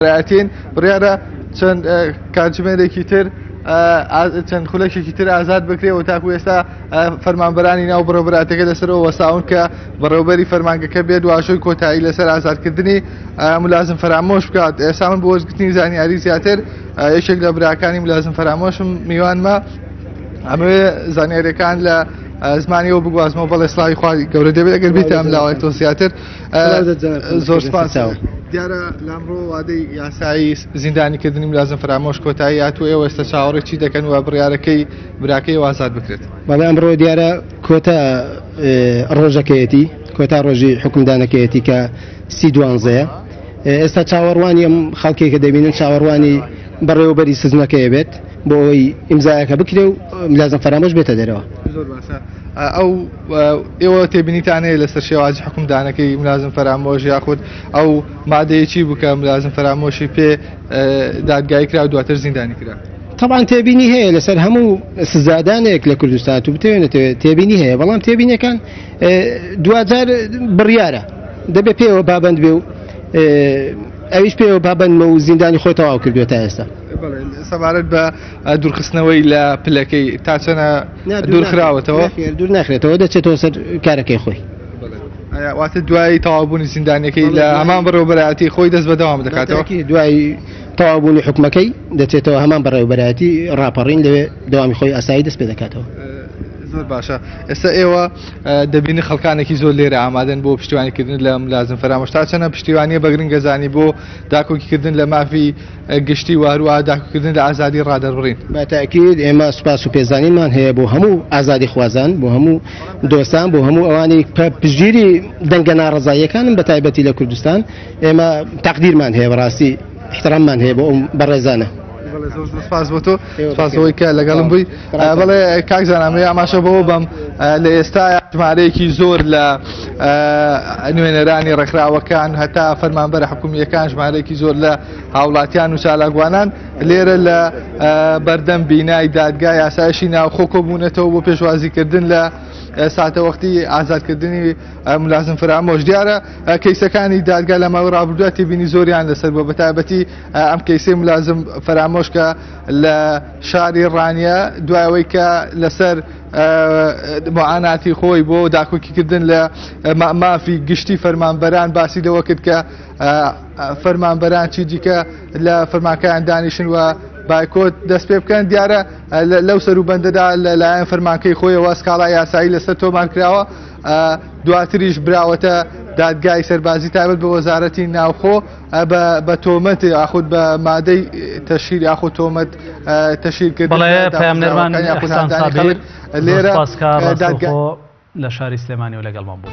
ئەتین بڕیارە چەند کاتژمێرێکی تر چەند خولەکێکی تر ئازاد بکرێت و تاکو ئێستا فەرمانبەرانی ناو بڕۆبراتەکە لەسەرەوە وەساون کە بەڕێوبەری فەرمانگەکە بێت واشۆی کۆتایی لەسەر ئازادکردنی ملازم فەرامۆش بکات ئێستا من بۆ وەزگرتنی زانیاری زیاتر یەکێک لە براکانی ملازم فەرامۆشم میوانمە ئەمەوێ زانیارەکان لە زمانیەوە بگوازمەوە بەڵێ سلاوی خوای گەورە دەبێت ئەگەر بیت ئەم لاوای تۆ زیاتر زۆر سپاس دیارە لامڕۆ وادەی یاسایی زیندانی کردنی لازم فرامۆش کۆتایی هاتوو ئێوە ئێستا چاوەڕێ چی دەکەن و بڕارەکەی براکەی وازاد بکرێت بەڵێ ئەمڕۆ دیارە کۆتا ڕۆژەکەیەتی کۆتا ڕۆژی حکومدانەکەیەتی کە سی دوانزەیە ئێستا چاوەڕوانی ئەم خەڵکێکە دەبینن چاوەڕوانی بەڕێوەبەری سزنەکەی بێت بۆ ئەوەی ئیمزایەکە بکرێ و لازم فەرامۆش بێتە دەرەوە ئەو ئێوە تێبینیتان هەیە لەسەر شێواجی حکومدانەکەی ملازم فەرامۆش یاخود ئەو مادەیەکی بکە ملازم فەرامۆشی پێ دادگای کرا و دواتر زیندانی کرا طبعاان تێبینی هەیە لەسەر هەموو سزادانێک لە کوردستان و بتوێنێتەوە تێبینی هەیە بەڵام تێبینەکان دوجار بڕیارە دەبێت پێوە بابند بێ و ئەویش پێوە بابندمە و زیندانی خۆی تەواو کردوێت تا ئێستا سەبارەت بە دوورخستنەوەی لە پلەکەی تاچەنە دوورخراوەتەوە نەخێر دوور ناخرێتەوە دەچێتەوە سەر کارەکەی خۆی ئایا واتە دوایی تەوابوونی زیندانەکەی بەڵێ، لە دوایی- هەمان بەڕێوبەرایەتی خۆی دەست بەدەوام دەکاتەوە باتاکی دوای تەوابوونی حکومەکەی دەچێتەوە هەمان بەڕێوبەرایەتی ڕاپەڕین لەوێ دەوامی خۆی ئاسایی دەست پێ دەکاتەوە زۆر باشە ئێستا ئێوە اه، دەبینی خەڵکانێکی زۆر لێرە ئامادەن بۆ پشتیوانیکردن لە ملازم فەرامۆش تا چەنە پشتیوانیە بەگرنگەزانی بۆ داکۆکیکردن لە مافی گشتی و هەروەها داکوکردن لە ئازادی ڕادەربڕین. بە تەئکید ئێمە سوپاس و پێزانینمان هەیە بۆ هەموو ئازادیخوازان، بۆ هەموو دۆستان، بۆ هەموو ئەوانەی پە پشتگیری دەنگە ناڕەزاییەکانن بە تایبەتی لە کوردستان، ئێمە تەقدیرمان هەیە بەڕاستی ئیحتراممان هەیە بۆ ئەو بەڕێزانە. بەڵێ زۆر زۆر سوپاس بۆ تۆ سوپاس بۆ ئەوەی کە لەگەڵم بووی. بڵێ کاک زانامێ ئاماشە بۆ بم لە ئێستا ژمارەیەکی زۆر لە نوێنەرانی ڕێکخراوەکان هەتا فەرمانبەر حکومیەکان ژمارەیەکی زۆر لە هاوڵاتیان و چالاگوانان لێرە لە بەردەم بینای دادگا یاسایشی ناوخۆ کۆبوونەتەوە بۆ پێشوازیکردن لە ساتەوەختی ئازادکردنی ملازم فرامۆش دیارە کەیسەکانی دادگا لە ماوە ڕابردوە تێبینی زۆریان لەسەر بۆ بەتابەتی ئەم کەیسی ملازم فرامۆشکە لە شاری ڕانیە دوای ئەوەی کە لەسەر معاناتی خۆی بۆ داکۆکیکردن لە مافی گشتی فەرمانبەران باسی لەوە کرد کە فەرمانبەران چی دیکە لە فەرماکەیان دانیشن و بایکۆت دەست پێ بکەن دیارە لەو سەر و بەندەدا لەلایەن فەرمانکەی خۆیەوە سکاڵا یاسایی لەسەر تۆمان کراوە دواتریش براوەتە دادگای سەربازی تابەت بە وەزارەتی ناوخۆ بە بە تۆمەت یاخود بە مادەی تەشیر یاخود تۆمەت تەشیر کرد لێرە لە شاری سلێمانی و لەگەڵمان بوو.